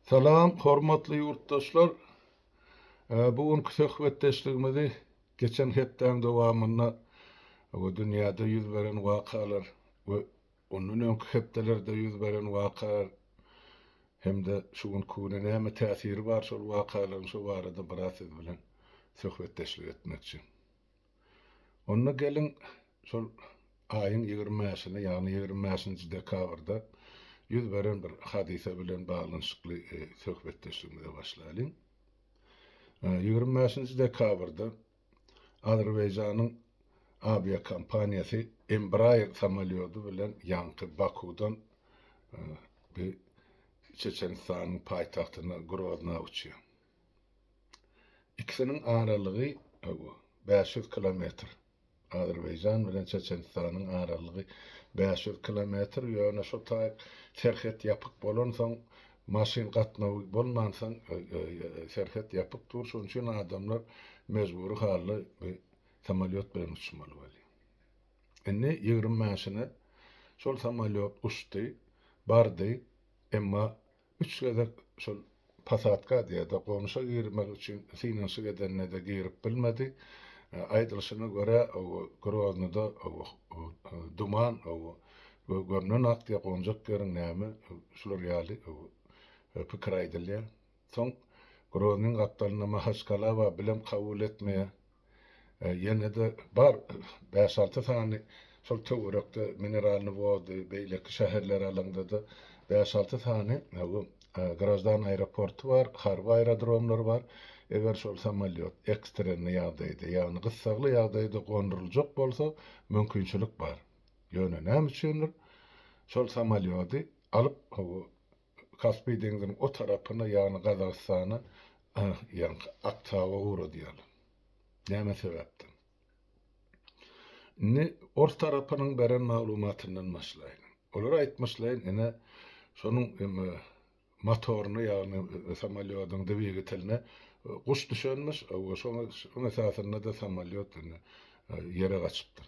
Salam, hormatly ýurtdaşlar! Bu günki söhbetdeşligimizi geçen hepdäň dowamynda we dünýäde ýüz beren wakalar we ondan öňki hepdelerde ýüz beren wakalar hem-de şu günki güne näme täsiri bar şol wakalaryň şu barada biraz siz bilen söhbetdeşlik etmekçi. Onda geliň, şol aýyň ýigrimi bäşine, ýagny ýigrimi bäşinji dekabrda ýüz beren bir hadysa bilen baglanyşykly söhbetdeşligimize başlaýlyň. Ýigrimi bäşinji dekabrda Azerbaýjanyň awiakompaniýasy Embraer samolýody bilen ýaňky Bakuwdan Çeçenistanyň paýtagtyna Grozna uçýar. Ikisiniň aralygy bäş ýüz kilometr. Azerbaýjan bilen Çeçenistanyň aralygy bäş ýüz kilometr, ýöne şo taýyk serhet ýapyk bolansoň, maşyn gatnawy bolmansoň, serhet ýapyk dur, şonuň üçin adamlar mejbury halda samolýot bilen uçmaly bolýar. Indi ýigrimi bäşine şol samolýot uçdy, bardy, emma Üç gezek şol pasadka diýede gonuşa girmek üçin synanyşyk edende-de girip bilmedi. Aýdylyşyna görä, Groznyda duman gömlen ak diýýär, gonjak ýeriň näme, şular ýaly pikir aýdylýar. Soň Groznyň gapdalynda Mahaçkala bar, bilem kabul etmeýär. Ýene-de bar bäş-alty sany şol töwerekde Mineralnyý Wody, beýleki şäherleri alaňda-da bäş-alty sany bu graždan aeroporty bar, harby aerodromlar bar. Eger şol samolýot ekstrenniý ýagdaýda, ýagny gyssagly ýagdaýda gonduryljak bolsa, mümkinçilik bar. Ýöne näme üçindir, şol samolýody alyp, Kaspi deňziniň o tarapyna, ýagny Gazagystana, ýaňky Aktaba ugradýarlar. Näme sebäpden? Indi ors tarapynyň beren maglumatyndan başlaýyn. Olar aýtmyşlaýyn, ine, şonuň motoryna, ýagny samolýodyň dwigateline guş düşenmiş, şonuň esasynda-da samolýot indi ýere gaçypdyr.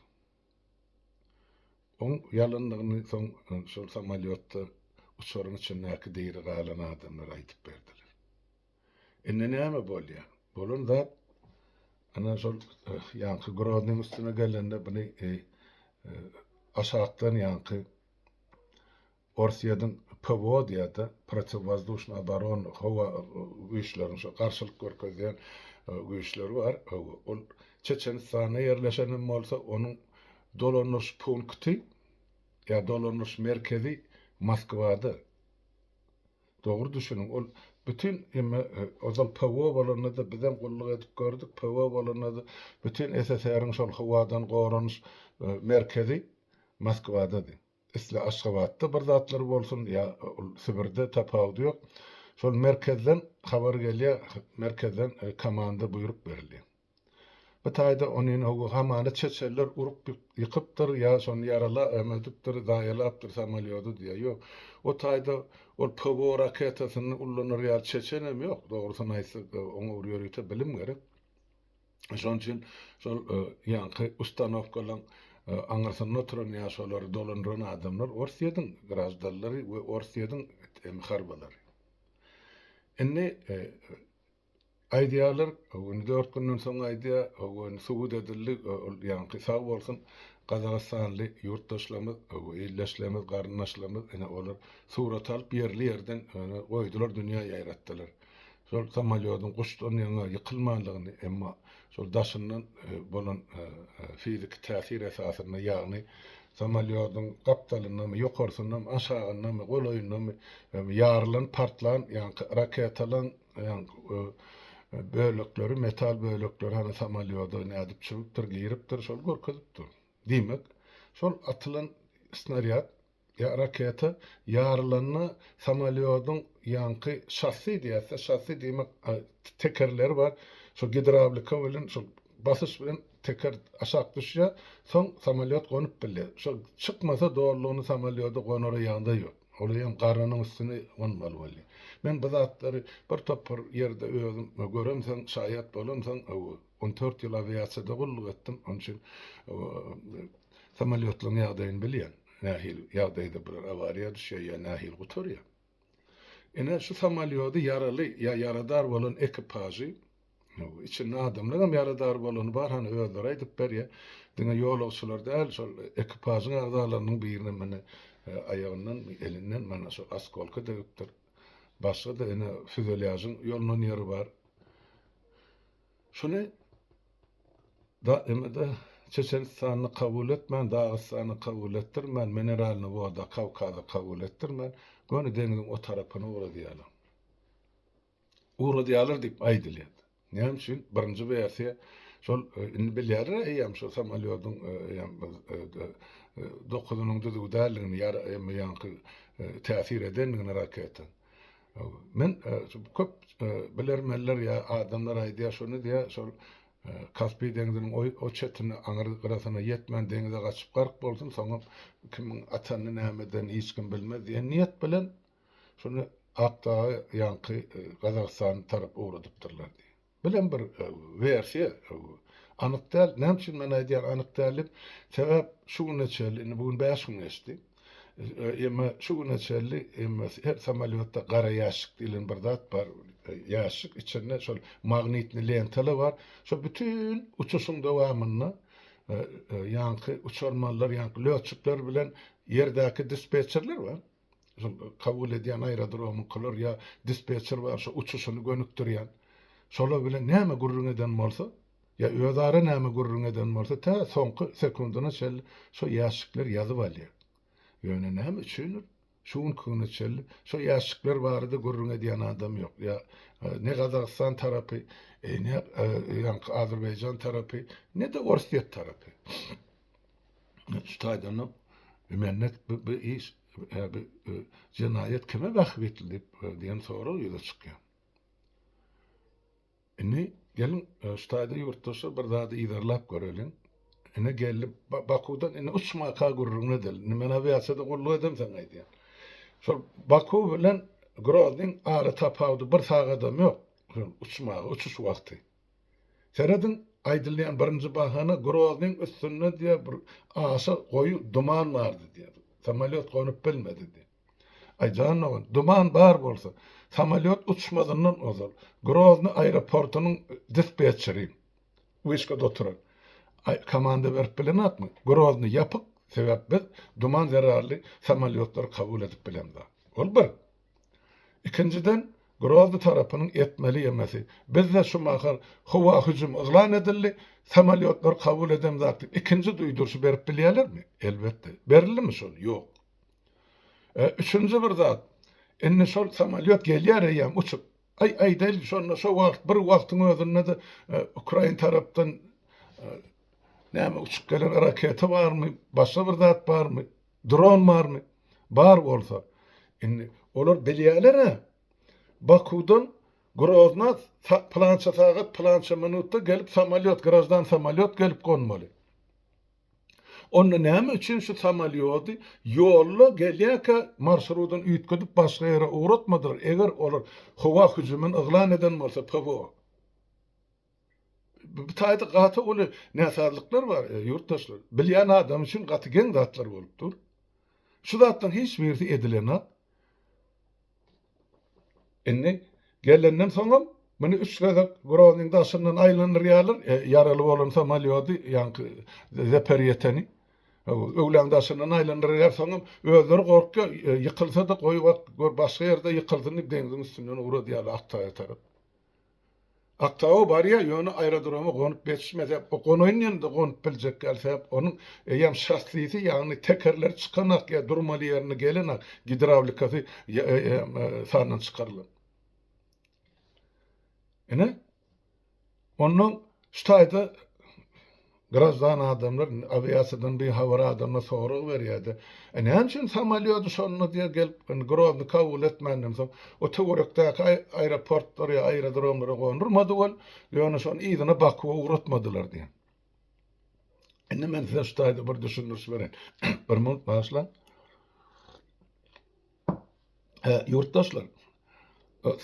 Oň ýalandygyny soň şol samolýotda uçaryň içindäki diri galan adamlar aýdyp berdiler. Indi näme bolýar? Bolan zat ana şol ýaňky Groznyň üstüne gelende buny aşakdan ýaňky Orsýetiň PWO-da, Protiwwozduşnyý oborona, howa güýçleriniň, şo garşylyk görkezýän güýçleri bar. Ol Çeçenistanda ýerleşen hem bolsa, onuň dolandyryş punkty ýa dolandyryş merkezi Moskwada. Dogry düşüniň, ol bütin emme ozal PWO bolanda-da biz hem gulluk edip gördük, PWO bolanda-da bütin SSR-iň şol howadan goranyş merkezi Moskwada-dy. Isle Aşgabatda bir zatlar bolsun ýa ol Sibirde tapawudy ýok. Şol merkezden habar gelýär, merkezden komanda buýruk berilýär. Bu taýda onyny howa hamana çeçeller urup ýykypdyr ýa şony ýarala emedipdir, zaýalapdyr samolýody diýýär. Ýok, o taýda ol PWO raketasyny ullanar ýaly çeçenem ýok. Dogrusyny aýtsak, oňa bir ýörite bilim gerek. Şonuň üçin şol ýaňky ustanowkalaryň aňyrsynda oturan ýa şolary dolandyran adamlar Orsýetiň graždanlary we Orsýetiň harbylary. Indi aýdýarlar, indi dört günden soň aýdýar, indi subut edildi, ol ýaňky sag bolsun, gazagystanly ýurtdaşlarymyz, ildeşlerimiz, garyndaşlarymyz, ine olar surat alyp ýerli-ýerden goýdular, dünýä ýaýratdylar. Şol samolýodyň guşdan ýaňa ýykylmandygyny, emma şol daşyndan bolan fiziki täsir esasynda, ýagny samolýodyň gapdalyndamy, ýokarsyndanmy, aşagyndamy, golaýyndamy ýarylan, partlan ýaňky raketalaň bölekleri, metal bölekleri hany samolýoda nädip çüwüpdir, giripdir, şol görkezipdir. Diýmek, şol atylan snarýad Raketa ýarylanda samolýodyň ýaňky şassi diýäs-de, şassi diýmek tekerleri bar, şol gidrawlika bilen, şol basyş bilen teker aşak düşýär, soň samolýot gonup bilýär. Şol çykmasa dolulygyna samolýoda gonara ýagdaý ýok. Olar hem garanyň üstüne gonmaly bolýar. Men bu zatlary bir topar ýerde özüm göremsoň, şaýat bolamsoň, On dört ýyl awiasiýada gulluk etdim, onuň üçin samolýotlaryň ýagdaýyny bilýän. Nähili ýagdaýda bular awariýa düşýär ýa nähili gutarýar. Ine, şu samolýody ýaraly ýa ýaradar bolan ekipažy, içinde adamlar hem ýaradar bolany bar, hany özleri aýdyp berýär. Diňe ýolagçylar däl, şol ekipažyň agzalarynyň biriniň mine aýagyndan, elinden mana şol askolka degipdir. Başga-da ine füzelýažyň ýolunan ýeri bar. Şuny da emede Çeçenistany kabul etmän, Dagystany kabul etdirmän, Mineralnyý woda Kawkazy kabul etdirmän, göni deňziň o tarapyna ugradýarlar. Ugradýarlar diýip aýdylýar. Näme üçin birinji wersiýa şol indi bilýärler eýýäm şu samalýodyň eýýäm dokuzynyň düzüw däldigini ýa emma ýaňky täsir edendigini raketa. Men köp bilermenler ýa adamlar aýdýar şony diýýär şol Kaspiý deňziniň o çetine aňyr gyrasyna ýetmän deňize gaçyp gark bolsun soňam kimiň atanyny näme edenini hiç kim bilmez diýen niýet bilen Şonda Akdaga ýaňky Gazagystan tarap ugradypdyrlar diýip. Bu hem bir wersiýa. Anyk däl. Näme üçin men aýdýan anyk däl diýip? Sebäp şu güne çenli, indi bu gün bäş gün geçdi. Emma şu güne çenli her samolýotda gara ýaşşyk diýlen bir zat bar. Ýaşşyk içinde şol magnitni lentalar bar. Şol bütin uçuşyň dowamynda ýaňky uçarmanlar ýaňky lötçükler bilen ýerdäki dispetçerler bar. kabul edýän aerodromyňkylar ýa dispetçer bar şo uçuşyny gönükdirýän şolar bilen näme gürrüň eden bolsa ýa özara näme gürrüň eden bolsa tä soňky sekundyna çenli şo ýaşşikler ýazyp alýar ýöne näme üçindir şu günki güne çenli şo ýaşşikler barada gürrüň edýän adam ýok ýa ne gazagystan tarapy ne ýaňky azerbaýjan tarapy ne de orsýet tarapy şu taýdan-da Mennet bu iş, bu jenaýat kime wahp edildi diýen sorag ýüze çykýar. Indi geliň, şu taýda ýurtdaşlar bir zady yzarlap göreliň. Ine geldi, Bakuwdan indi uçmaka gürrüňini edeliň. Indi men awiasiýada gulluk edem saňa aýdýan. Şol Bakuw bilen Groznyň ara tapawudy bir sagadam ýok, uçmaga, uçuş wagty. Serediň, aýdylýan birinji bahana Groznyň üstünde diýýär bir aşa goýy duman bardy diýýär. Samolýot gonup bilmedi diýýär. Aý jan dogan, duman bar bolsa, samolýot uçmazyndan ozal, Grozny aeroportynyň dispetçeri, wişkada oturan, aý komanda berip bilenokmy, Grozny ýapyk, sebäp biz duman zerarly samolýotlary kabul edip bilemzok. Ol bir. Ikinjiden, Grozny tarapynyň etmeli ýemesi. Bizde şu mahal howa hüjümi yglan edildi, samolýotlar kabul edemzak diýip, ikinji duýduryşy berip bilýärlermi? Elbetde. Berildimi şol? Ýok. E, üçünji bir zat, indi şol samolýot gelýär eýýäm uçup. Aý, aýdaýlyk, şonda şo wagt, bir wagtyň özünde-de e, ukrain tarapdan e, näme uçup gelen raketa barmy, başga bir zat barmy? Dron barmy? Bar bolsa. Indi olar bilýäler-ä. Bakuwdan Grozna pylança sagat, pylança minutda gelip samolýot, graždan samolýot gelip gonmaly. Onda näme üçin şu samolýody ýolda gelýärkä marşrudyny üýtgedip başga ýere ugratmadylar, eger olar howa hüjümini yglan eden bolsa PWO? Bu taýda gaty uly näsazlyklar bar, ýurtdaşlar. Bilýän adam üçin gaty geň zatlar bolup dur. Şu zatlaryň hiç birisi edilenok. Indi gelenden soňam muny üç gezek Groznyň daşyndan aýlandyrýarlar, ýaraly bolan samolýody, ýaňky Zaperýeteni. Öwlaň daşyndan aýlandyrýar, soňam özleri gorkýar, ýykylsa-da goýbak, gör başga ýerde ýykylsyn diýip deňziň üstünden ugradýarlar Aktaýa tarap. Aktau barýa ýöne aerodroma gonup ýetişmese o gonaýynda gonup biljek däl sebäp onuň eýýäm şassisi ýagny tekerleri çykanak ýa durmaly ýerine gelenak gidrawlikasy sandan çykarylan. Ine ondan şu taýda Graždan adamlar indi awiasiýadan bihabar adamlar sorag berýärdi. E näme üçin samolýody şonda diýe gelip indi Grozny kabul etmänden soň o töwerekdäki aeroportlara ýa aerodromlara gondurmady ol, ýöne şony yzyna Bakuwa ugratmadylar diýen. Indi men size şu taýda bir düşündiriş bereýin. Bir minut bagyşlaň. Hä, ýurtdaşlar,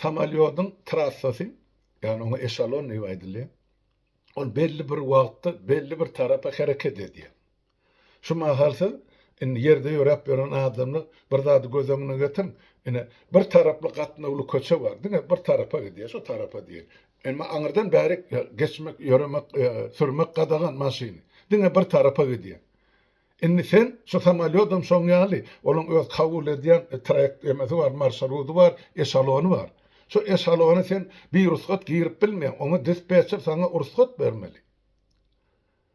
samolýodyň trassasy, ýagny oňa eşalon diýip aýdylýar. Ol belli bir wagtda belli bir tarapa hereket edýär. Şu mahal siz indi ýerde ýöräp ýören adamlar bir zady göz öňüne getiriň. Ine, bir taraply gatnawly köçe bar. Diňe bir tarapa gidýär, şu tarapa diýeli. Emma aňyrdan bärik geçmek, ýöremek, sürmek gadagan maşyny. Diňe bir tarapa gidýär. Indi sen şu samolýodam şoň ýaly, onuň öz kabul edýän traýekt emesi bar, marşrudy bar, eşalony bar. Şu eşalony sen birugsat girip bilmeýäň, oňa dispetçer saňa ursgat bermeli.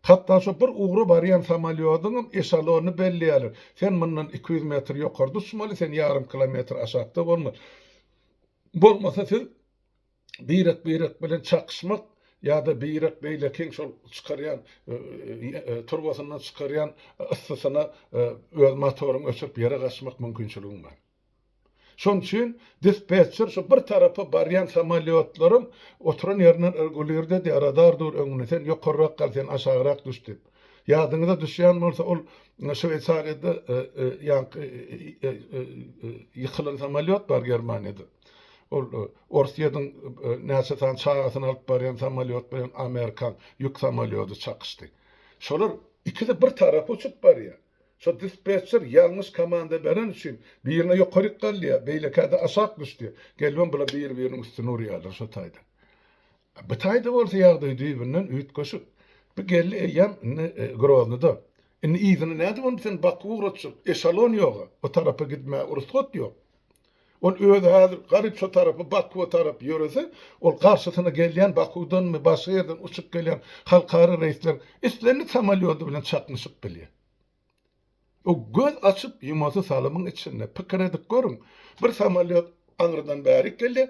Hatda şu bir ugra barýan samolýodyňam eşalonyny belleýärler. Sen mundan iki ýüz metr ýokarda uçmaly, sen ýarym kilometr aşakda bolmaly. Bolmasa siz birek-birek bilen çakyşmak ýa-da birek beýlekiň şol çykarýan turbasyndan çykarýan yssysyna öz motoryňy öçürip ýere gaçmak mümkinçiligiň bar. Şonuň üçin dispetçer şu bir tarapa barýan samolýotlaryň oturan ýerinden regulirde edýär, radar dur öňünde, sen ýokarrak gal, sen aşagrak düş diýip. Ýadyňyza düşýän bolsa, ol Şweýsariýada ýaňky ýykylan samolýot bar Germaniýada. Ol Orsýetiň näçe sany çagasyny alyp barýan samolýot bilen amerikan ýük samolýody çakyşdy. Şolar ikisi bir tarapa uçup barýar. Şo dispetçer ýalňyş komanda beren üçin birine ýokaryk galýar, beýlekäde aşak düşdi. Gelibem bular biri-biriniň üstüne urýarlar şo taýdan. Bu taýda bolsa ýagdaý düýbünden üýtgeşik. Bu geldi eýýäm indi Groznyda. Indi yzyna nädip ony sen Bakuwa ugratjak? Eşalon ýog-a. O tarapa gitmäge rugsat ýok. Ol özi häzir garypsa tarapy Bakuwa tarap ýörese, ol garşysyna gelýän Bakuwdanmy, başga ýerden uçup gelýän halkara reýsler islendik samolýody bilen çaknyşyp bilýär. O göz açyp ýumasy salymyň içinde. Pikir edip görüň, bir samolýot aňyrdan bärik gelýär,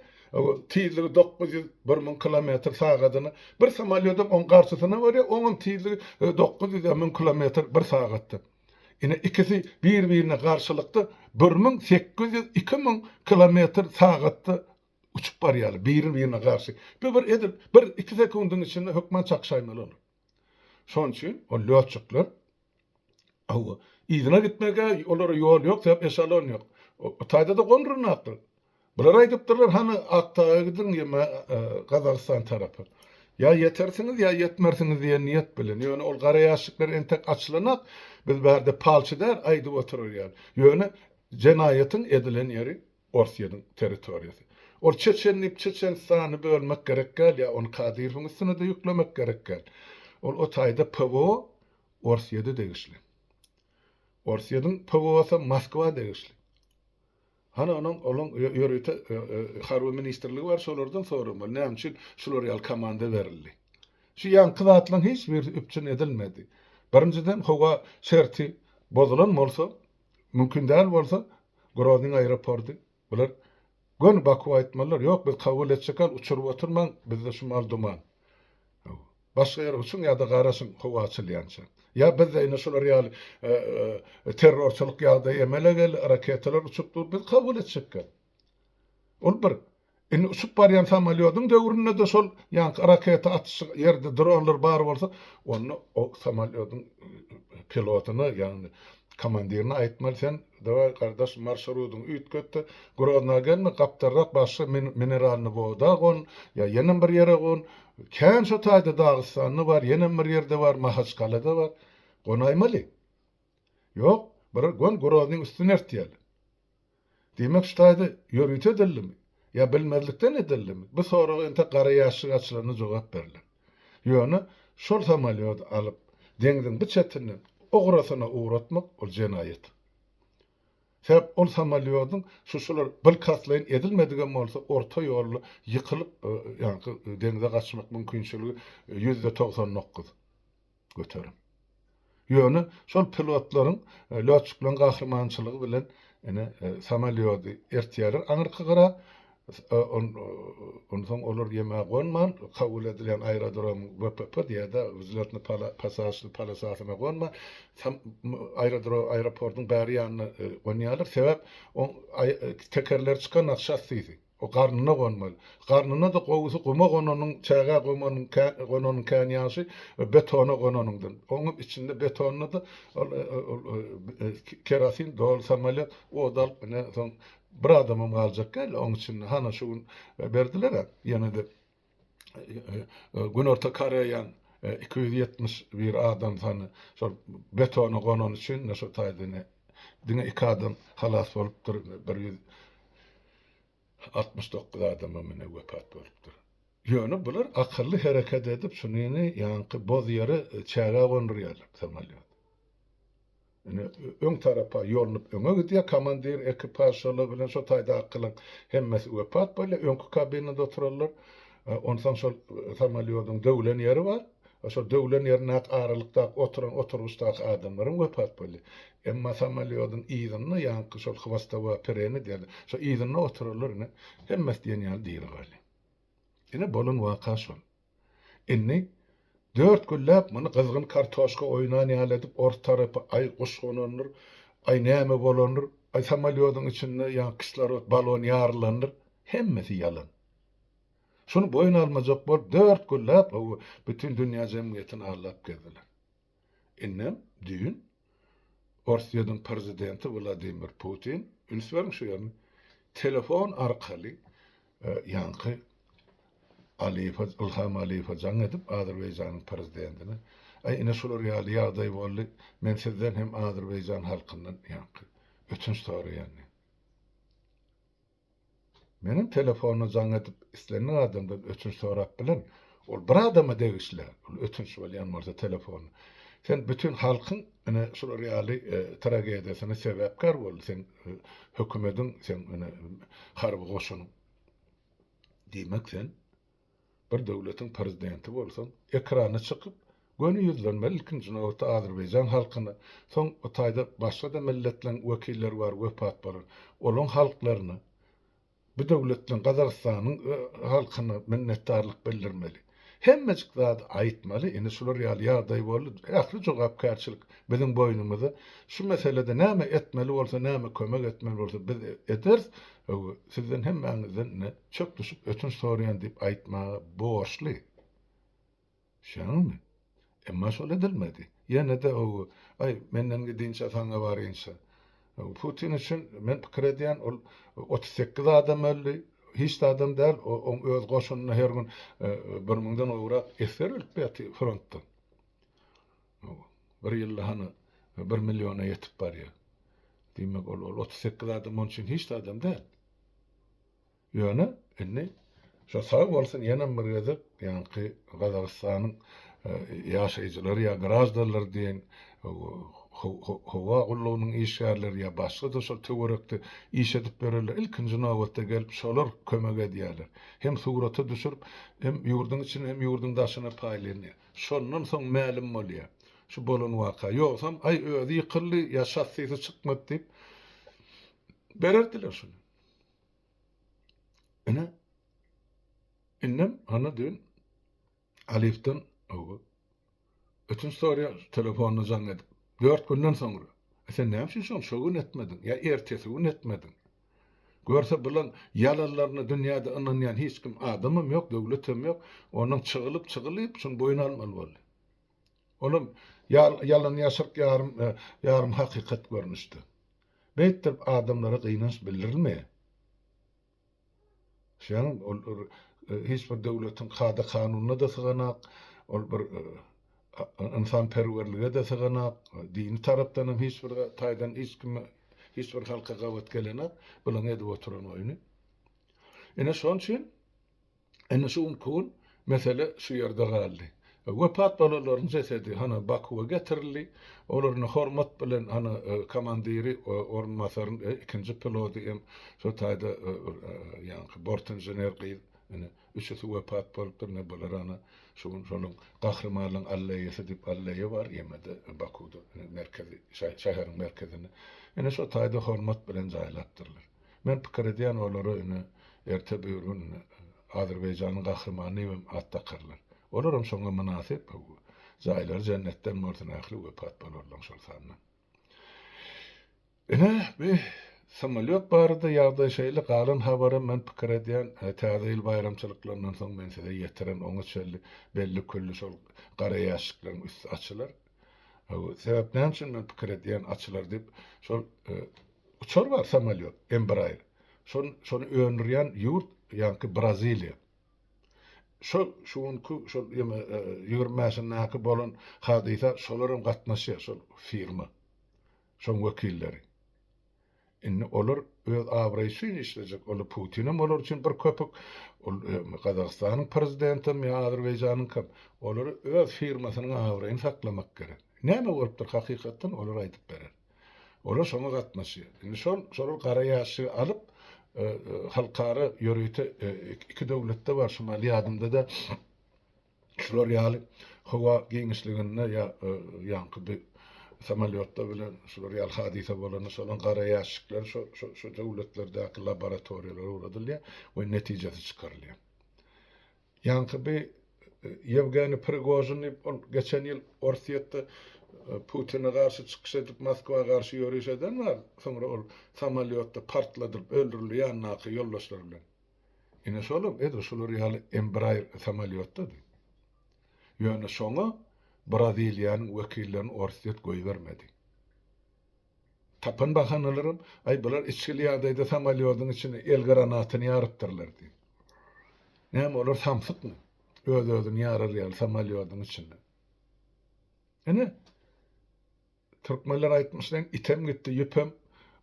tizligi dokuz ýüz, bir müň kilometr sagadyna, bir samolýodam oň garşysyna barýar, oňam tizligi dokuz ýüz, müň kilometr bir sagatda. Ine ikisi bir-birine garşylykda bir müň sekiz ýüz iki müň kilometr sagatda uçup barýarlar, biri-birine garşy. Bu bir edil bir iki sekundyň içinde hökman çakşaýmaly olar. Şonuň üçin ol lýotçyklar yzyna gitmeg-ä olara ýol ýok, sebäp eşalon ýok. O taýda-da gondurynakdyr. Bular aýdypdyrlar hany Akdaga gidiň ýa-da Gazagystan tarapa. Ýa ýetersiňiz, ýa ýetmersiňiz diýen niýet bilen. Ýöne ol gara ýaşlyklar entek açylanak biz bärde palçy däl aýdyp oturar ýaly. Ýöne jenaýatyň edilen ýeri Orsýetiň territoriýasy. Ol çeçen diýip Çeçenistany bölmek gerek däl ýa ony Kadyrowyň üstüne-de ýüklemek gerek däl. Ol o taýda PWO Orsýete degişli. Orsýetiň PWO-sy Moskwa degişli. Hany onuň onuň ýörite harby ministrligi bar şolardan soramaly näme üçin şular ýaly komanda berildi. Şu ýaňky zatlaryň hiç birisi üpjün edilmedi. Birinjiden howa şerti bozulan bolsa mümkin däl bolsa Groznyň aeroporty bular göni Baku aýtmalylar ýok biz kabul etjekal uçuryp oturmaň bizde şu mal duman. Başga ýere uçuň ýa-da garaşyň howa açylýança. Ýa bizde ine şular ýaly terrorçylyk ýagdaýy emele geldi, raketalar uçup dur, biz kabul etjekkä? Ol bir. Indi uçup barýan samolýodyň döwründe-de şol ýaňky raketa atyşy ýerde dronlar bar bolsa, onda o samolýodyň pilotyna, ýagny komandirine aýtmaly, sen Daway gardaş marşrudyňy üýtgetde Grozna gelme gapdalrak başga mineralny woda gon ýa ýenem bir ýere gon kän şo taýda Dagystanda bar ýenem bir ýerde bar Mahaçkalada bar gonaýmaly ýok bir gon Groznyň üstüni ertýäli diýmek şu taýda ýörite edildimi ýa bilmezlikden edildimi bu soraga entek gara ýaşşik açylanda jogap berlen. Ýöne şol samolýody alyp, deňziň bu çetinden o gyrasyna ugratmak, ol jenaýat. Sebäp ol samolýodyň şuşular bilkastlaýyn edilmedigem bolsa, orta ýolda ýykylyp, ýaňky deňze gaçmak mümkinçiligi ýüzde togsan dokuz. göterin. Ýöne şol pilotlaryň lotçyklaryň gahrymançylygy bilen ine samolýody ertýärler aňyrky gyra, onsoň olar ýeme gonman kabul edilýän aerodromyň VPP diýýärda wzletno pasažli polosasyna gonman aerodrom aeroportyň bäri ýanyna gonýarlar sebäp tekerleri çykanok şassisi O garnyna gonmaly. Garnyna-da gowusy guma gonanyň, çägä gomanyň kän, gonanyň kän ýagşy we betona gonanyňdan. Oňam içinde betonyna-da ol, ol, kerosin doly samolýot od alyp, ine, soň bir adamam galjak däldi oň içinde. Hana şu gün berdiler-ä, ýene-de Günorta Koreýanyň iki ýüz ýetmiş bir adam sany şol betona gonany üçin şu taýdan diňe iki adam halas bolupdyr, bir ýüz altmyş dokuz adamam ine wepat bolupdyr. Ýöne bular akylly hereket edip şunyny ýaňky boz ýere çäge gondurýarlar samolýot. Ine, öň tarapa ýolunyp öňe gidýär. Komandir, ekipaž, şolar bilen şo taýdakylaň hemmesi wepat bolýar. Öňki kabinada oturanlar, onsoň şol samolýodyň döwlen ýeri bar. Şo döwlen ýerindäki aralykdaky oturan oturgyçdaky adamlar hem wepat bolýar. Emma samolýodyň yzynda, ýaňky şol hwostowa pereni diýerler, şo yzynda oturanlar ine, hemmesi diýen ýaly diri galýar. Ine, bolan waka şol. Indi dört günläp muny gyzgyn kartoşka oýnan ýaly edip ors tarapy aý guş gonandyr, aý näme bolandyr, aý samolýodyň içinde ýa kislorod balon ýarylandyr, hemmesi ýalan. Şuny boýun almajak bolup dört günläp bütin dünýä jemgyýetini aldap gezdiler. Indem düýn Orsýetiň prezidenti Wladimir Putin, üns beriň şu ýerine, telefon arkaly ýaňky Aliýewe, Ylham Aliýewe jaň edip, Azerbaýjanyň prezidentine, Aý, ine şular ýaly ýagdaý boldy, men sizden hem Azerbaýjan halkyndan ýaňky ötünç soraýan diýip. Meniň telefony jaň edip islendik adamdan ötünç sorap bilen. Ol bir adama degişli ol ötünç bolýan bolsa telefony. Sen bütin halkyň ine şular ýaly tragediýasyna sebäpkär boldy seň hökümediň seň ine harby goşunyň. Diýmek sen. Bir döwletiň prezidenti bolsaň, ekrana çykyp, göni ýüzlenmeli, ilkinji nobatda azerbaýjan halkyna, soň o taýda başga-da milletleriň wekilleri bar wepat bolan, olaň halklaryna, bu döwletleň Gazagystanyň halkyna minnetdarlyk bildirmeli. Hemmejik zady aýtmaly, indi şular ýaly ýagdaý boldy, ähli jogapkärçilik biziň boýnumyzda, şu meselede näme etmeli bolsa, näme kömek etmeli bolsa biz ederis, sizden hemmäňizden indi Çöp düşüp ötünç soraýan diýip aýtmaga borçly. Şonuňmy? Emma şol edilmedi. Ýene-de ogu, aý, menden gidinçä saňa barynça. Putin üçin men pikir edýän, ol otuz sekiz adam öldi, hiç zadam däl, oň öz goşunyna her gün bir müňden gowrak esger ölüp ýatyr frontdan. Bir ýylda hany bir milliona ýetip barýar. Diýmek, ol otuz sekiz adam oň üçin hiç zadam däl. Ýöne indi şo sag bolsun ýenem bir gezek ýaňky Gazagystanyň ýaşaýjylary ýa graždanlar diýen howa gullugynyň işgärleri ýa başga-da şol töwerekde iş edip ýörenler ilkinji nobatda gelip şolar kömek edýärler. Hem surata düşürip hem ýurduň içine hem ýurduň daşyna paýlanýar. Şondan soň mälim bolýar şu bolan waka. Ýogsam aý özi ýykyldy ýa şassisi çykmady diýip bererdiler şuny. Ine, indem hany diýen Alifden ötünç soraýar telefonyna jaň edip. Dört günden soňra. E sen näme üçin şony şo gün etmediň? Ýa ertesi gün etmediň? Görse bulaň ýalanlaryna dünýäde ynanýan hiç kim adamam ýok, döwletem ýok. Onuň çygylyp-çygylyp şuny boýun almaly boldy. Olar ýalan-ýaşryk ýarym, ýarym hakykat görnüşde. Beýtdirip adamlara gynanç bildirilme. Şeýle ol hiç bir döwletiň kada-kanunyna-da syganak, ol bir ynsanperwerlige-de syganak, dini tarapdan hem hiç bir taýdan hiç kime, hiç bir halka gabat gelenok, bularň edip oturan oýny. Ine şoň üçin. Ine şu günki gün mesele şu ýerde galdy. Wepat bolanlaryň jesedi hany Bakuwa getirildi. Olar indi hormat bilen hany komandiri, orunbasaryň ikinji pilody hem şu taýda ýaňky bort inžener gyz indi üçüsi wepat bolupdyr. Ine bular hany şu gün şonuň Gahrymanlygyň alleýasy diýip alleýa bar ýemede Bakuwda merkezi şäheriň merkezinde. Ine şu taýda hormat bilen jaýlapdyrlar. Men pikir edýän olara ine erte bir gün Azerbaýjanyň gahrymany diýip hem at dakarlar. Olar hem şoňa mynasyp jaýlary jennetden bolsun ähli wepat bolarlaň şol sanda. Ine bi samolýot barada ýagdaý şeýle galan habaram men pikir edýän täze ýyl baýramçylyklaryndan soň men size ýetiren oňa çenli belli külli şol gara ýaşşyklaryň üsti açylar. Sebäp näme üçin men pikir edýän açylar diýip şol Uçar bar samalýot Embraer. Şon şony öndürýän ýurt ýaňky Braziliýa. Şo şu günki şol ýeme ýigrimi mäşindäki bolan hadysa şolaram gatnaşýar şol firma. Şoň wekilleri. Indi olar öz abraýy üçin işlejek ola Putinem olar üçin bir köpük ol Gazagystanyň prezidentem ýa Azerbaýjanyňkam olary öz firmasynyň abraýyny saklamak gerek. Näme bolupdyr hakykatdan olar aýdyp berer. Olar şoňa gatnaşýar. Indi şol şolar gara ýaşygy alyp, halkara ýörite iki döwletde bar, şu mahaly ýadymda-da, şular ýaly howa giňişliginde ýa ýaňky bir samolýotda bilen şular ýaly hadysa bolanda şolaň gara ýaşyklar şo şo döwletlerdäki laboratoriýalara ugradylýar we netijesi çykarylýar. Ýaňky bi Ýewgeniý Prigožin diýip ol geçen ýyl Orsýetde Putine garşy çykyş edip Moskwa garşy ýöriş eden bar, soňra ol samolýotda partladylyp öldürildi ýanyndaky ýoldaşlary bilen. Ine şolam edil şular ýaly Embraer samolýotdady. Ýöne şoňa Braziliýanyň wekillerini Orsýet goýbermedi. Tapan bahanalaram, Aý, bular içgili ýagdaýda samolýodyň içine el granatyny ýarypdyrlar diýip. Näme, olar samsykmy? Öz-özüni ýarar ýaly samolýodyň içinde. Ine, türkmenler aýtmyş deň, item gitdi, ýüpem,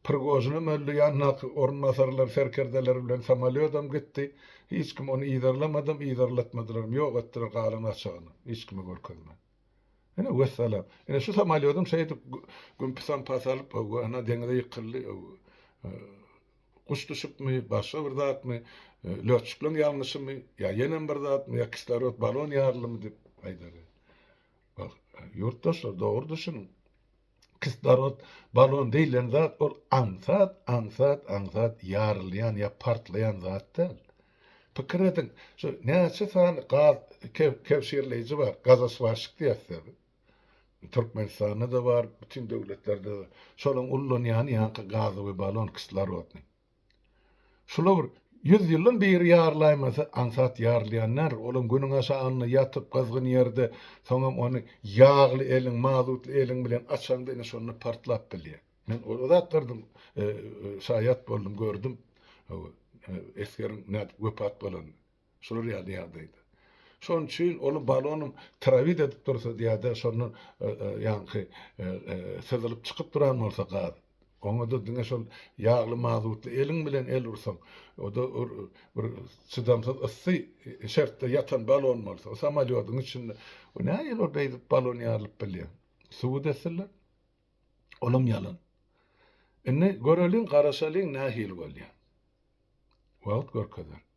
Prigožinem öldi, ýandaky orunbasarlar, serkerdeler bilen samolýodam gitdi. Hiç kim ony yzarlamadam, yzarlatmadylaram, ýok etdiler galan gaçagyny, hiç kime görkezmän. Ene wessalam. Ene şu samolýodum şeýdip güm-pisam pas alyp, hawa, ana deňize ýykyldy. Guş düşüpmi, başga bir zatmy, lötçükleň ýalňyşymy, ýa ýenem bir zatmy, ýa kislorod balon ýarylymy diýip aýdaly. Ýurtdaşlar, dogry düşüniň. Kislorod balon diýlen zat ol aňsat, aňsat, aňsat ýarylýan ýa partlaýan zat däl. Pikir ediň, şu näçe sany gaz kebşirleýji bar, gazoswaşik diýýäs biz. Türkmenistanda-da bar, bütin döwletlerde-de. Şolaryň ullanýany ýaňky gazowy balon, kislorodnyý. Şular bir ýüz ýyldan beri ýarlaýmasa, aňsat ýarylýan däldir. Olam günüň aşagynda ýatyp, gyzgyn ýerde, soňam ony ýagly eliň, mazutly eliň bilen açaňda, ine şonda partlap bilýär. Men o zatlardan şaýat boldum, gördüm. Hawa, esgeriň nädip wepat bolanyny. Şular ýaly ýagdaýda. Şonuň üçin ol balonyň trawit edip dursa ýa-da şondan ýaňky syzylyp çykyp duran bolsa gaz, oňa-da diňe şol ýagly mazutly eliň bilen el ursaň, o-da bir çydamsyz yssy şertde ýatan balon bolsa, o samolýodyň içinde, o nähili ol beýdip balon ýarylyp bilýär? Subut etsinler. Olam ýalan. Indi göreliň, garaşalyň nähili bolýar. Wagt görkezer.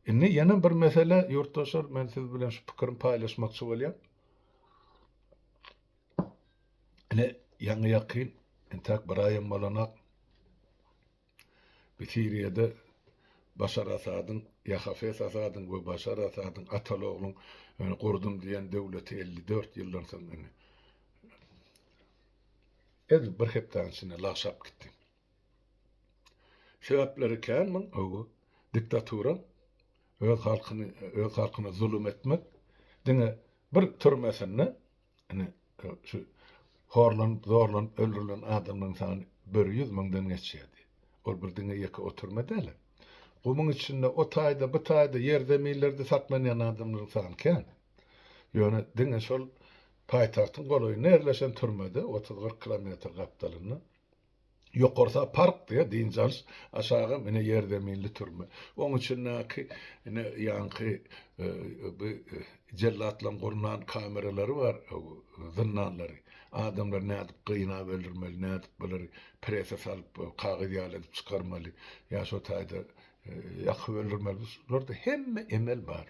Indi ýene bir mesele, ýurtdaşlar, men siz bilen şu pikirim paýlaşmakçy bolýan. Ine, ýaňy ýakyn, entäk bir aýam bolanak, bir Siriýada Başar Asadyň, ýa Hafez Asadyň we Başar Asadyň ataly-ogluň gurdum diýen döwleti 54 ýyldan soň indi, edil bir hepdäniň içinde lagşap gitdi. Sebäpleri kän muň öwi. Diktatura öz halkyny öz halkyna zulum etmek diňe bir türmesinde ine şu horlanyp zorlanyp öldürilen adamlaryň sany böri ýüz müňden geçýärdi. Ol bir diňe ýeke o türme dälä. Gumuň içinde o taýda bu taýda ýer zeminlerde saklanýan adamlaryň sany kän. Ýöne diňe şol paýtagtyň golaýynda ýerleşen türmede otuz gyryk kilometr gapdalynda Ýokarsy park diýýär, dynç alyş, aşagy ine ýerzeminli türme. Oň içindäki ine ýaňky bu jellatlaryň gurnan kameralary bar, zyndanlary. Adamlary nädip gynap öldürmeli, nädip bulary prese salyp, kagyz ýaly edip çykarmaly, ýa şo taýda ýakyp öldürmeli, bularda hemme emel bar.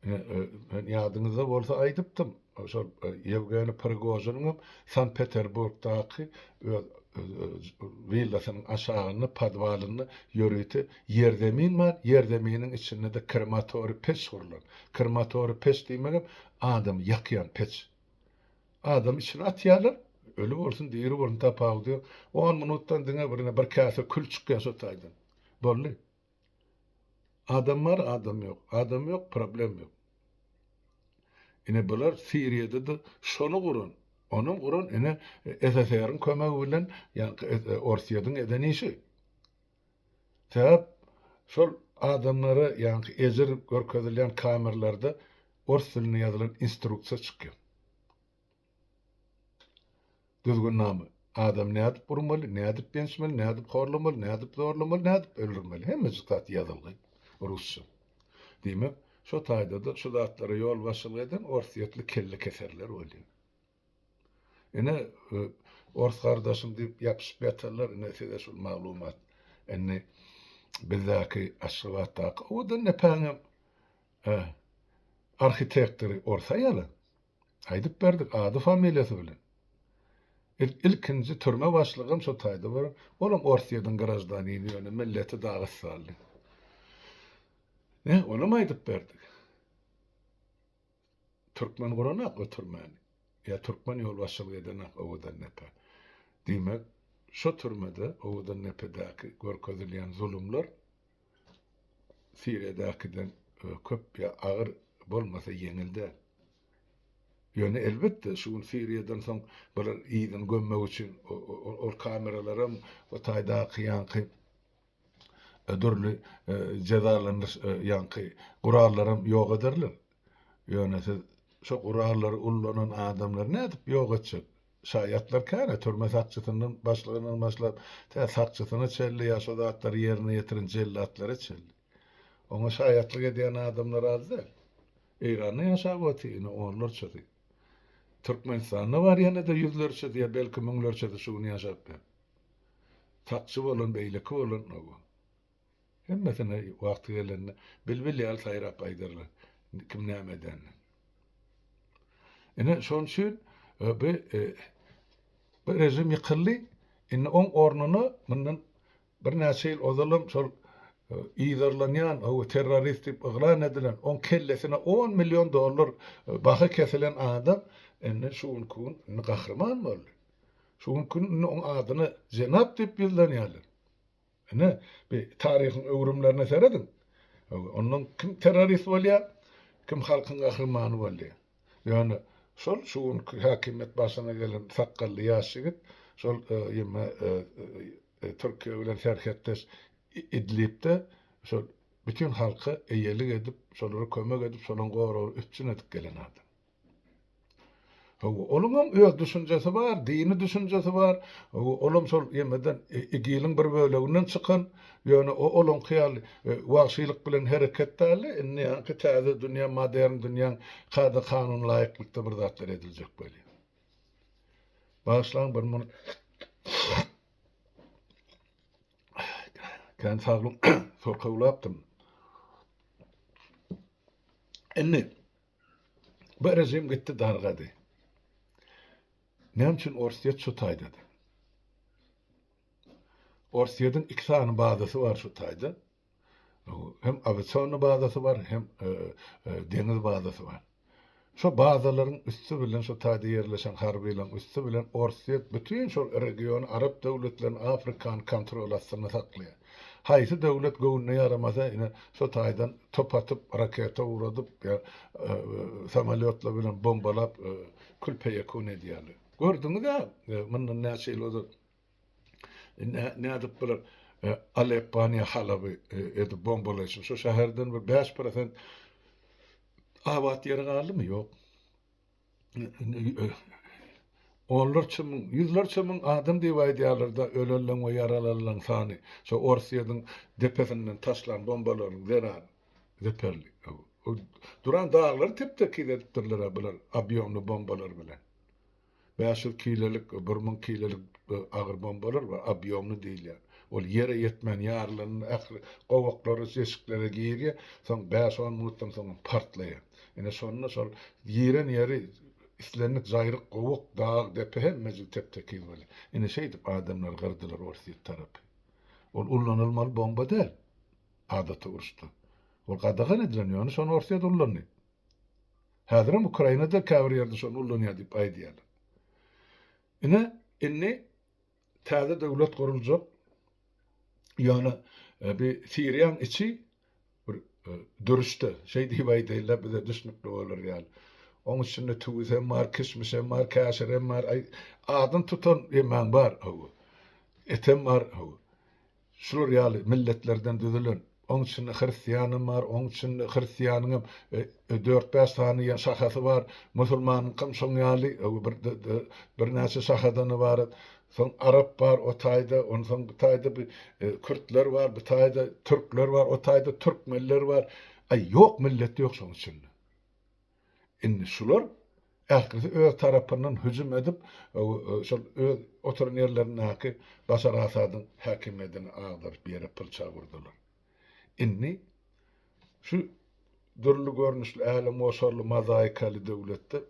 Ýadyňyzda bolsa aýdypdym, şol Ýewgeniý Prigožiniň hem Sankt-Peterburgdaky öz willasynyň aşagynda, podwalynda ýörite ýerzemin bar, ýerzeminiň içinde-de krematoriý peç gurlan. Krematoriý peç diýmegem adamy ýakýan peç. Adamy içine atýarlar, öli bolsun, diri bolsun tapawudy ýok. On minutdan diňe birine bir käse kül çykýar şo taýdan. Boldy. Adam bar adam ýok adam ýok problem ýok ine bular siriýadada şony guran onam guran ine SSR-iň kömegi bilen ýagny orsyýadyň eden işi sebäp şol adamlara ýagny ejir görkezilýän kamerlarda ors dilinde ýazylan instruksiýa çykýar Düzgünnama. Adamy nädip urmaly, nädip ýençmeli, nädip horlamaly, nädip zorlamaly, nädip öldürmeli, hemmejik zat ýazylgy rusça. Diýmek, şo taýda-da şu zatlara ýolbaşçylyk eden orsýetli kellekeserler bolýar. Ine, ors gardaşym diýip ýapyşyp ýatanlar, ine, size şul maglumat. Indi bizdäki Aşgabatdaky owadan depäňem arhitektory ors aýaly. Aýdyp berdik, ady-familiýasy bilen. Biz ilkinji türme başlygam şo taýda bolan. Olam Orsýetiň graždanini, ýöne milleti dagystanly. Nä, olam aýdyp berdik. Türkmen guranok o türmäni. Ýa türkmen ýolbaşçylyk edenak Owadandepe. Diýmek, şo türmede Owadandepedäki görkezilýän zulumlar Siriýadakiden köp ýa agyr bolmasa ýeňil däl. Ýöne elbetde şu gün Siriýadan soň bular yzyny gömmek üçin ol kameralaram o taýdaky ýaňky dürli jezalandyryş ýaňky gurallaram ýok ederler. Ýöne siz şo gurallary ullanan adamlary nädip ýok etjek? Şaýatlar käre türme sakçysyndan başlygyndan başlap, tä sakçysyna çenli ýa şo zatlary ýerine ýetiren jellatlara çenli. Oňa şaýatlyk edýän adamlar az däl. Eýranda ýaşap otyr ine onlarçasy. Türkmenistanda bar ýene-de ýüzlerçesi ýa belki müňlerçesi şu gün ýaşap ýör. Sakçy bolan, beýleki bolan, hawa. Hemmesini wagty gelende bilbil ýaly saýrap aýdarlar, kim näme edenini. Ine, şonuň üçin e, bu e, bu režim ýykyldy. Indi oň ornuna mundan birnäçe ýyl ozalam şol yzarlanýan o terrorist diýip yglan edilen oň kellesine 10 million dollar e, baha kesilen adam indi şu günki gün indi gahryman boldy. Şu günki gün indi oň adyna jenap diýip ýüzlenýärler. Ine, bir taryhyň öwrümlerine serediň. Ondan kim terrorist bolýar, kim halkyň gahrymany bolýar. Ýöne şol şu günki häkimiýet başyna gelen sakgally ýaş ýigit şol ýymy Türkiýe bilen serhetdeş Idlibde şol bütin halka eýelik edip, şolara kömek edip, şolaň goragyny üpjün edip gelen adam. Onuňam öz düşünjesi bar, dini düşünjesi bar. Olam şol ýemeden, igiliň bir böleginden çykan. Ýöne o olaňky ýaly wagşylyk bilen hereket däldi. Indi ýaňky täze dünýä, modern dünýäň kada-kanunyna laýyklykda bir zatlar ediljek bolýar. Bagyşlaň bir mun kän saglyň sorkawlapdym. Indi. Bu režim gitdi dargady. Näme üçin Orsýet şu taýdady? Orsýetiň iki sany bazasy bar şu taýda. Hem awiasion bazasy bar, hem e, e, deňiz bazasy bar. Şu bazalaryň üsti bilen şu taýda ýerleşen harbylaryň üsti bilen Orsýet bütün şol regiony arap döwletlerini Afrikany kontrol astynda saklaýar. Haýsy döwlet göwnüne ýaramasa ine şo taýdan top atyp raketa uradyp ýa samolýotlar bilen bombalap kül peýekun edýärler. Gördüňizä mundan näçe ýyl ozal nädip bular Aleppany ýa Halaby edip bombalaýşyp şo şäherden bir bäş prosent abat ýeri galdymy ýok. onlarça müň, ýüzlerçe müň adam diýip aýdýarlar-da, ölenleň we ýaralanlaň sany, şo Orsýetiň depesinden taşlan bombalaryň zerany zeperli. Duran daglary tep-tekiz edipdirler-ä bular obýomly bombalar bilen. Bäş ýüz kilelik, bir müň kilelik agyr bombalar bar, obýomly diýilýär. Ol ýere ýetmän ýarylan ähli gowaklary, jeşiklere girýär, soň bäş-on minutdan soňam partlaýar. Ine, şonda şol giren ýeri islendik jaýryk, gowak, dag, depe hemmejik tep-tekiz bolýar. Ine, şeýdip adamlary gyrdylar Orsýet tarapy. Ol ullanylmaly bomba däl, adaty uruşda. Ol gadagan edilen, ýöne şony Orsýet ullandy. Häzirem Ukrainada käbir ýerde şony ullanýar diýip aýdýarlar. Ine, indi Täze döwlet guruljak. Ýöne bi Siriýaň içi bir dürüşde, şeý diýip aýdaýynla bize düşnükli bolar ýaly. Oň içinde tüwüs hem bar, kişmiş hem bar, käşir hem bar, aýy, adyny tutan ýemäň bar, hawa. Etem bar, hawa. Şular ýaly milletlerden düzülen, oň içinde hristiýanam bar, oň içinde hristiýanyňam dört-bäş sany ýa şahasy bar, musulmanyňkam şoň ýaly bir birnäçe şahadany bar. Soň arap bar o taýda, onsoň bu taýda bir kürtler bar, bu taýda türkler bar, o taýda türkmenler bar. Aý, ýok milleti ýok şoň içinde. Indi şular ählisi öz tarapyndan hüjüm edip, şol öz oturan ýerlerindäki Başar Asadyň häkimiýedini agdaryp ýere pyrçag urdular. Indi şu dürli görnüşli älemgoşarly mozaikaly döwletde,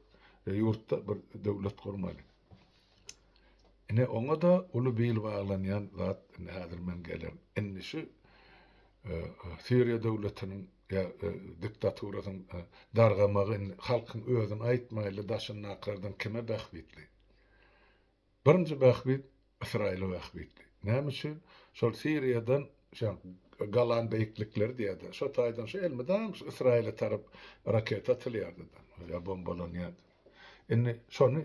ýurtda bir döwlet gurmaly. Ine, oňa-da uly bil baglanýan zat, indi häzir men gelen. Indi şu Siriýa döwletiniň ýa diktaturasyň dargamagy indi halkyň özüni aýtmaýly daşyndakylardan kime bähbitli? Birinji bähbit Ysraýyla bähbitli. Näme üçin? Şol Siriýadan şa Golan beýiklikleri diýýärdi. Şo taýdan şu elmydam şu Ysraýyla tarap raketa atylýardy-da, ýa bombalanýardy. Indi şony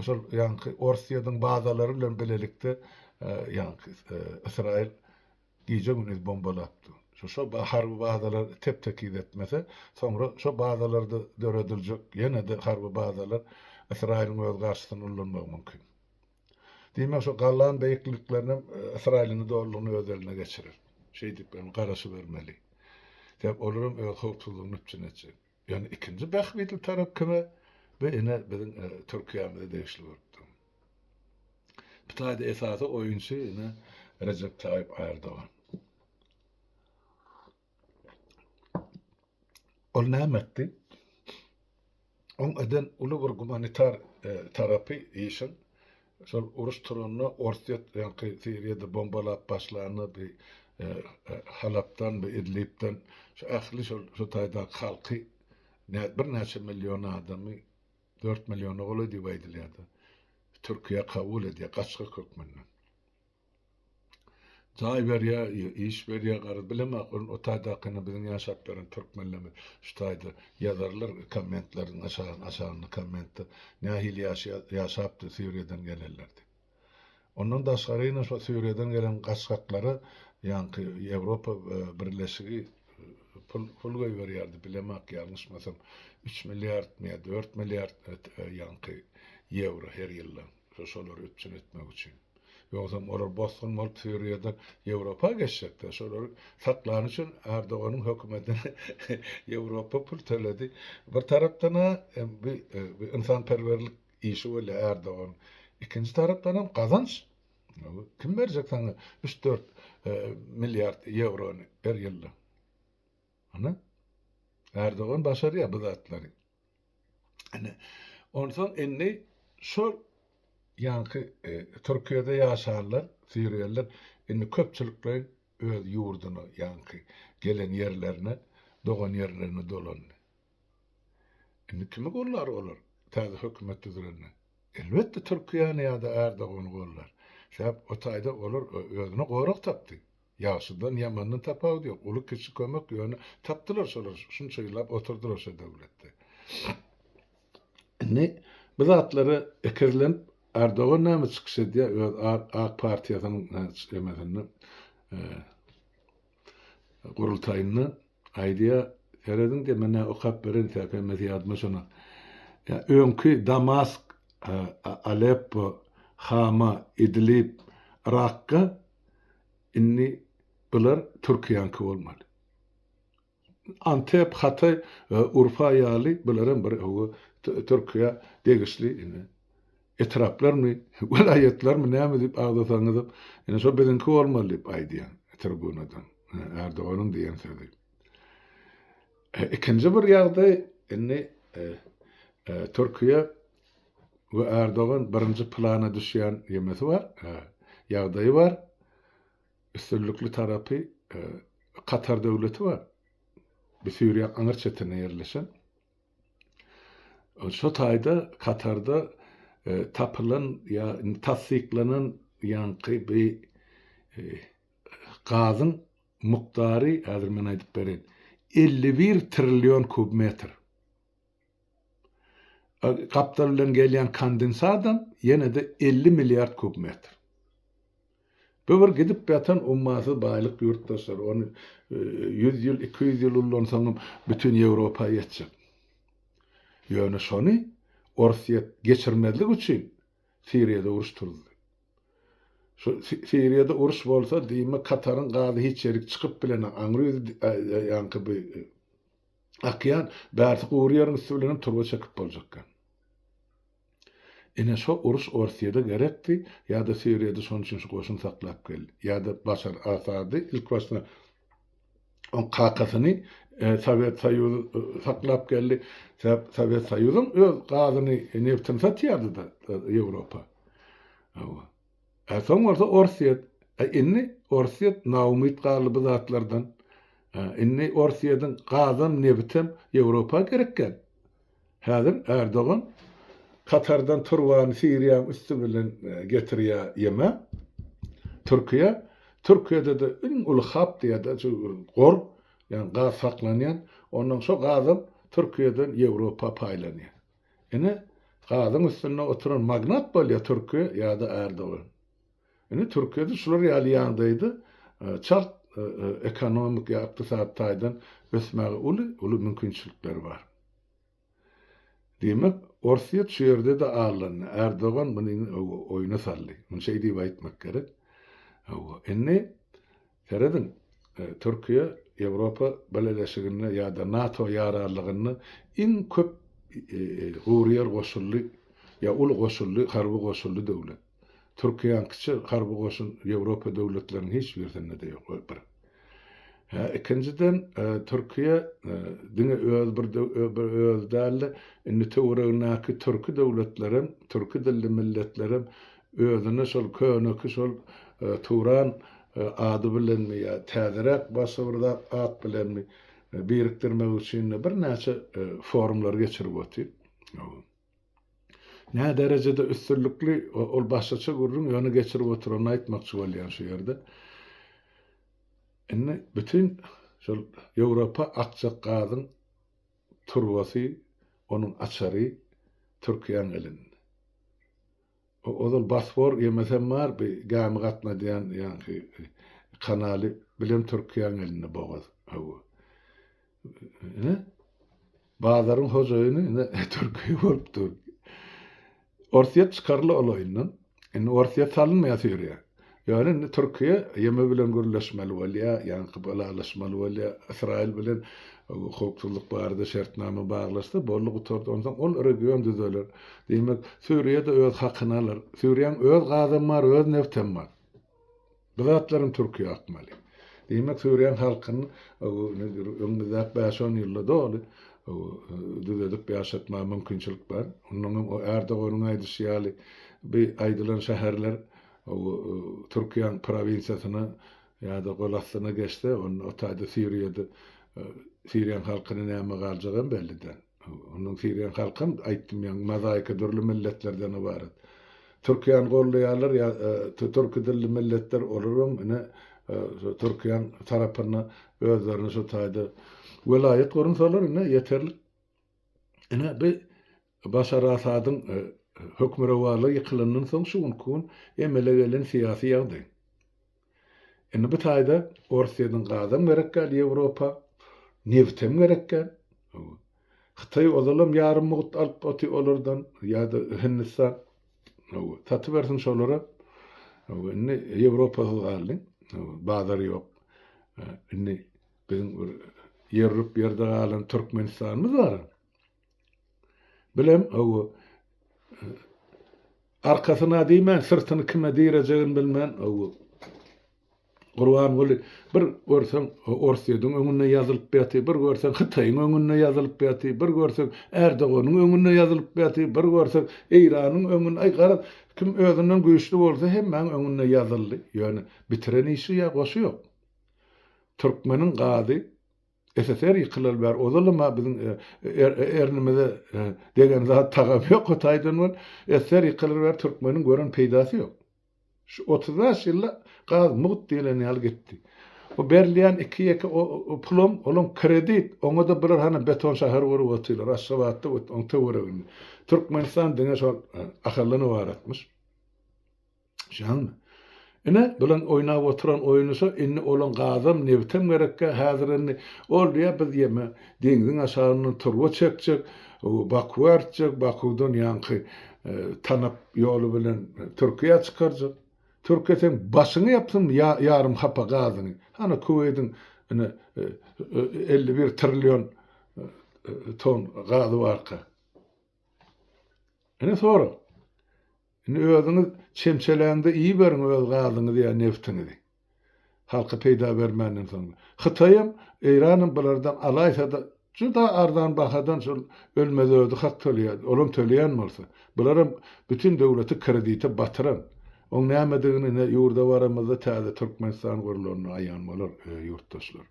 şol ýaňky Orsýetiň bazalary bilen bilelikde ýaňky Ysraýyl gije-gündiz bombalapdy. Şo şo harby bazalar tep-tekiz etmese, soňra şo bazalarda dörediljek ýene-de harby bazalar Ysraýylyň öz garşysyna ullanmagy mümkin. Diýmek, şo galan beýikliklerinem Ysraýylyny dolulygyna öz eline geçirer. Şeýdip hem garaşybermeli. Sebäp olar hem öz howpsuzlygyny üpjün etjek. Ýöne ikinji bähbitli tarap kime? Bu ine biziň Türkiýämize degişli bolup dur. Bu taýda esasy oýunçy ine Rejep Taýyp Ärdogan. Ol näme etdi? Oň eden uly bir gumanitar e, tarapy işiň şol uruş turanda Orsýet ýaňky Siriýada bombalap başlanda bir e, e, Halapdan we Idlibden şu ähli şol şu taýdaky halky birnäçe million adamy 4 milliona golaý diýip aýdylýardy. Türkiýe kabul edýär gaçgak hökmünde. Jaý berýä, iş berýä garaz bilemok ol otaýdakyny biziň ýaşap ýören türkmenlermi şu taýda ýazarlar kommentleriň aşagynda kommentde nähili ýaşapdy sýuriýadan gelenler diýip. Ondan daşgary ine şo sýuriýadan gelen gaçgaklara ýaňky ýewropa birleşigi pul goýberýärdi bilemok ýalňyşmasam üç milliardmy ýa dört milliard ýaňky ýewro her ýylda şolary üpjün etmek üçin. Ýogsam olar bosgun bolup Suriýadan Ýewropa geçjekler. Şolary saklany üçin Erdoganyň hökümetine Ýewropa pul töledi. Bir tarapdan-a bi bi ynsanperwerlik işi bolýar Erdoganyň. Ikinji tarapdanam gazanç. Kim berjek saňa üç-dört milliard ýewrony her ýylda? Hany? Erdogan başarýar bu zatlary. Ine, onsoň indi şol ýaňky Türkiýede ýaşanlar, siriýalylar indi köpçülikleýin öz ýurduna, ýaňky gelen ýerlerine, dogan ýerlerine dolandy. Indi kimi gollar olar täze hökümet düzülende? Elbetde, Türkiýäni ýa-da Ärdogany gollar. Sebäp o taýda olar özüne gorag tapdy. Ýagşydan ýamandan tapawudy ýok. Uly kiçi kömek ýöne tapdylar şolar şunça ýyllap oturdylar şo döwletde. Indi bu zatlara ekezlenip Erdogan näme çykyş edýär öz ak partiýasynyň emesinde gurultaýynda aýdýar serediň diýýär men näme okap bereýin sebäp hemmesi ýadyma şona ýa öňki Damask Aleppo Hama Idlib Rakga Indi bular türkiýäňki bolmaly. Antep, Hataý, Urfa ýaly bular hem bir owo türkiýä degişli etraplarmy, welaýatlarmy näme diýip agzasaňyzam, indi şo biziňki bolmaly diýip aýdýan tribunadan Erdoganyň diýen sözi. Ikinji bir ýagdaý indi türkiýe Bu Erdogan birinji plana düşýän ýemesi bar, ýagdaýy bar. Üstünlikli tarapy Katar döwleti bar. Bu Siriýaň aňyr çetinde ýerleşen. Şo taýda Katarda tapylan ýa tassyklanan ýaňky bi gazyň mukdary häzir men aýdyp bereýin elli bir trillion kub metr. Gapdal bilen gelýän kondensatam ýene-de elli milliard kub metr. Bu bir gidip ýatan ummasyz baýlyk ýurtdaşlar. Ony ýüz ýyl, iki ýüz ýyl ullansaňam bütin Ýewropa ýetjek. Ýöne şony Orsýet geçirmezlik üçin Siriýada uruş turuzdy. Şu Siriýada uruş bolsa, diýme Kataryň gazy hiç ýerik çykyp bilenok. Aňry ýaňky bu Akýan, bärsi gury ýeriň üsti bilenem turba çekip boljak eken. Ine şo uruş Orsyýada gerekdi, ýa-da Siriýada şonuň üçin şu goşun saklap geldi, ýa-da Başar Asady ilk başda oň kakasyny Sowet Soýuzy saklap geldi. Sebäp Sowet Soýuzam öz gazyny, nebtini satýardy-da Ýewropa. Hawa. Ä soň bolsa Orsýet. Ä indi Orsýet naumyt galdy bu zatlardan. Ä indi Orsýediň gazam, nebitem Ýewropa gerek däl. Häzir Ärdogan Katardan turbany Siriýaň üsti bilen getirýä ýeme. Türkiýä. Türkiýede-de iň uly hap diýerler şu bir gor, ýagny gaz saklanýan. Onnoň şo gazam Türkiýeden Ýewropa paýlanýa. Ine gazyň üstünde oturan magnat bolýa türki ýada Ärdogan. Ine türkiýede şular ýaly ýagdaýda çalt ekonomik ýa ykdysady taýdan ösmäge uly uly mümkinçilikleri bar. Diýmek orsyýet şu ýerde-de allandy. Ärdogan muny oýuna saldy. Muny şeý diýip aýtmak gerek. Hawa indi Serediň, Türkiýe Ýewropa Bileleşiginde ýa-da NATO ýararlygynda iň köp gury ýer goşully ýa uly goşully harby goşully döwlet. Türkiýäňkiçe harby goşun Ýewropa döwletleriniň hiç birisinde-de ýok, bir. Hä, ikinjiden, Türkiýe diňe öz bir bir özi däl-de, indi töweregindäki türki döwletlerem, türki dilli milletlerem Özüni şol köneki şol Turan ady bilenmi ýa täzeräk başga bir zat at bilenmi birikdirmek üçin-de birnäçe forumlary geçirip otyr. Nä derejede üstünlikli ol başgaça gürrüň ýöne geçirip oturanyny aýtmakçy bolýan şu ýerde. Indi bütin şol Ýewropa akjak gazyň turbasy, onuň açary Türkiýäň elinde. Ozal Bosfor gemisem bar, bi gämi gatnadýan ýaňky kanaly bilem Türkiýäň elinde bogaz. Hawa. Ine, bazaryň hojaýyny ine Türkiýe bolup dur. Orsýet çykarly ol oýundan. Indi Orsýet salynmaýas ýörýär. Ýöne indi Türkiýe YM bilen gürleşmeli bolýar, ýaňky ylalaşmaly bolýar. Ysraýyl bilen howpsuzlyk barada şertnama baglaşsa, boldy gutardy. Onsoň ol region düzeler. Diýmek, Suriýa-da öz hakyny alar. Suriýanyň öz gazam bar, öz nebtem bar. Bu zatlaram Türkiýä akmaly. Diýmek, Suriýanyň halkyny öňümizdäki bäş-on ýylda doly düzedip ýaşatmaga mümkinçilik bar. Onnoňam o Erdoganyň aýdyşy ýaly, bu aýdylan şäherler Hawa, Türkiýäň prowinsiýasyna ýa-da golastyna geçse, onda o taýda Siriýada Siriýaň halkyna näme galjagam belli däl. Onuň Siriýaň halkam aýtdym ýaňy mozaika dürli milletlerden ybarat. Türkiýäni goldaýarlar ýa türki dilli milletler olaram ine şu Türkiýäň tarapynda özlerini şu taýda welaýat gurunsalar ine ýeterlik. Ine bi Başar Asadyň hökmürowarlygy ýykylandan soň şu günki gün emele gelen syýasy ýagdaý. Indi bu taýda Orsýetiň gazam gerek däl Ýewropa, nebtem gerek däl. Hytaý ozalam ýarym mugt alyp oty olardan ýa-da Hindistan. Satybersin şolara. Indi Ýewropasyz galdy. Bazar ýok. Indi biziň bir ýerrüp ýerde galan Türkmenistanymyz bar. Bilem, ow-o. Arkasyna diýmän, syrtyny kime direjegini bilmän, ow-o. Gurbanguly, bir görseň, Orsýetiň öňünde ýazylyp ýatyr, bir görseň, Hytaýyň öňünde ýazylyp ýatyr, bir görseň, Ärdoganyň öňünde ýazylyp ýatyr, bir görseň, Eýranyň öňünde, aý, garaz, kim özünden güýçli bolsa, hemmäň öňünde ýazyldy. Ýöne bitiren işi ýa goşy ýok. Türkmeniň gazy SSR ýykylaly bäri ozalam-a biziň ernimize degen zat tagam ýok o taýdan bol. SSR ýykylyr bäri türkmeniň gören peýdasy ýok. Şu otuz bäş ýylda gaz mugt diýlen ýaly gitdi. O berilýän iki-ýeke pulam olam kredit, oňa-da bular hany beton şäher gurup otyrlar, Aşgabatda we oň töwereginde. Türkmenistan diňe şol Ahallyn ybaratmyş. Şaňmy? Ine, bilen oýnap oturan oýunysy, indi olaň gazam, nebtem gerekkä, häzir indi, ol diýýär, biz ýeme, deňziň aşagyndan turba çekjek, Bakuwa artjak, Bakuwdan ýaňky Tanap ýoly bilen Türkiýä çykarjak. Türkiýe seň başyňy ýapsyn ýarym hapa gazyňy. Hany Kuweýdiň ine elli bir trillion ton gazy barka. Ine sora. Indi özüňiz çemçeläňde iýiberiň öz gazyňyzy ýa neftiňizi. Halka peýda bermänden soň. Hytaýam, Eýranam bulardan alaýsa-da juda arzan bahadan şol ölmezödi hak töleýärdi. Olam töleýän bolsa. Bularam bütin döwleti kredite batyran. Oň nämedigini ine ýurda baramyzda täze Türkmenistan gurulanda aýan bolar, ýurtdaşlar.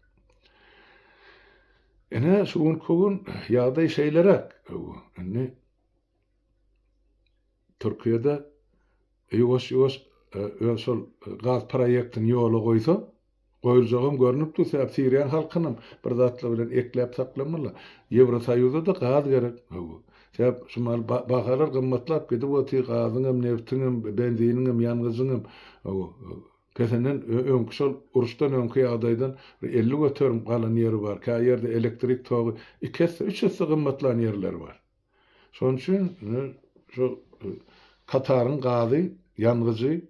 Ine şu günki gün ýagdaý şeýleräk. Indi Türkiýede ýuwaş-ýuwaş e, öz şol e, gaz proýektini ýola goýsa, goýuljagam görnüp dur. Sebäbi siriýan halkynam bir zatlar bilen ekläp saklamaly. Ýewrosoýuza-da gaz gerek. Hawa. Sebäp şu mal bahalar gymmatlap gidip otyr, gazyň hem, nebtiň hem, benziniň hem, ýangyjyň hem. Hawa. Pesenden öňki şol uruşdan öňki ýagdaýdan bir 50 göterim galan ýeri bar. Kä ýerde elektrik togy iki esse, üç esse gymmatlan ýerleri bar. Şonuň üçin şu Kataryň gazy, ýangyjy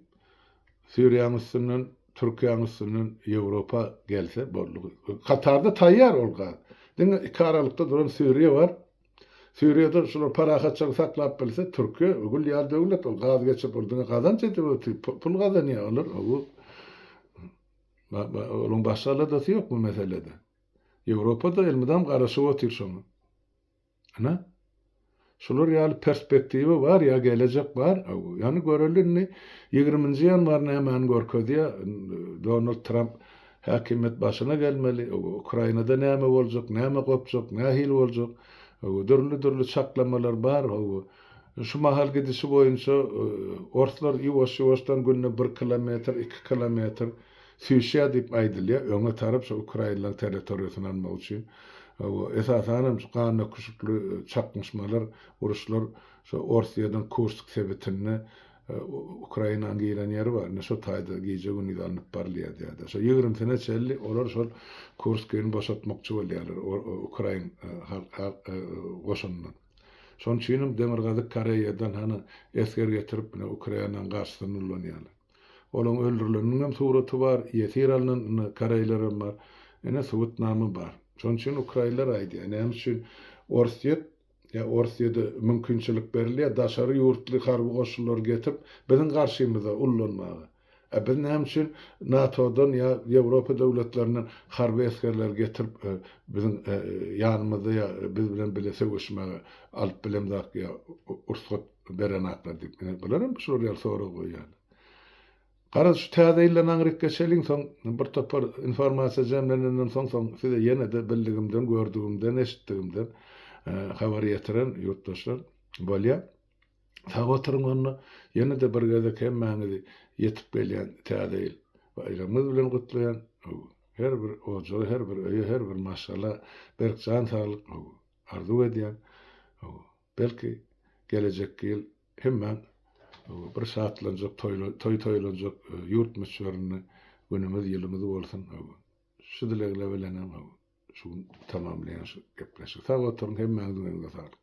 Siriýanyň üstünden, Türkiýäniň üstünden Ýewropa gelse boldy. Katarda taýýar ol gaz. Diňe iki aralykda duran Siriýa bar. Siriýada şular parahatçylygy saklap bilse, Türkiýe gül ýaly döwlet, ol gaz geçirip, ol diňe gazanç edip, pul gazanýar olar. Bu Onuň başga aladasy ýok bu meselede. Ýewropa-da elmydam garaşyp otyr şoňa. Ana, şular ýaly perspektiwa bar ýa gelejek bar. Ýani göreli indi ýigriminji ýanwar nämäni görkezýä. Donald Tramp häkimiýet başyna gelmeli. Ukrainada näme boljak, näme gopjak, nähili boljak. Dürli dürli çaklamalar bar. Şu mahal gidişi boýunça orslar ýuwaş ýuwaşdan günde bir kilometr, iki kilometr, Sýuşýa diýip aýdylýar, öňe tarap şo ukrainlaryň territoriýasyny almak üçin, hawa, esasanam şu ganöküşikli çaknyşmalar, uruşlar şo Orsýetiň Kursk sebitinde Ukrainanyň giren ýeri bar, indi şo taýda gije-gündiz alnyp barylýar diýýärler. Şo ýigrimisine çenli olar şol Kurskyny boşatmakçy bolýarlar ukrain goşunyndan. Şonuň üçinem Demirgazyk Koreýadan hany esger getirip, ine Ukrainanyň garşysyna nurlanýarlar. Olaň öldürileniniňem suraty bar, ýesir alnan indi koreýlerem bar. Ine subutnama bar. Şonuň üçin ukraýnlar aýdýar, näme üçin Orsýet ýa Orsýede mümkinçilik berilýär daşary ýurtly harby goşunlary getirip biziň garşymyza ullanmaga. A biz näme üçin NATO-dan ýa Ýewropa döwletlerinden harby esgerleri getirip biziň ýanymyzda ýa biz bilen bile söweşmäge alyp bilemzak ýa ursgat beren atlar diýip, ine, bular hem şular ýaly sorag goýýarlar. Garaz, şu Täze ýylda Naňrykka çeliň, soň bir topar informasiýa jemlenenden soň, soň size ýene-de bildigimden, gördügimden, eşitdigimden habar ýetiren ýurtdaşlar bolýar. Sag oturyň onda, ýene-de bir gezek hemmäňizi ýetip gelýän Täze ýyl baýramyňyz bilen gutlaýan. Her bir ojaga, her bir öýe, her bir maşgala berk jan saglyk arzuw edýän. Belki, gelejekki ýyl hemmäň bir şatlanjak, toý toýlanjak ýurt möçberinde günümiz, ýylymyz bolsun. Şu dilegle bilenem şu gün tamamlaýan şu gepleşigi. Sag oturyň, hemmäňiziň eliňize saglyk.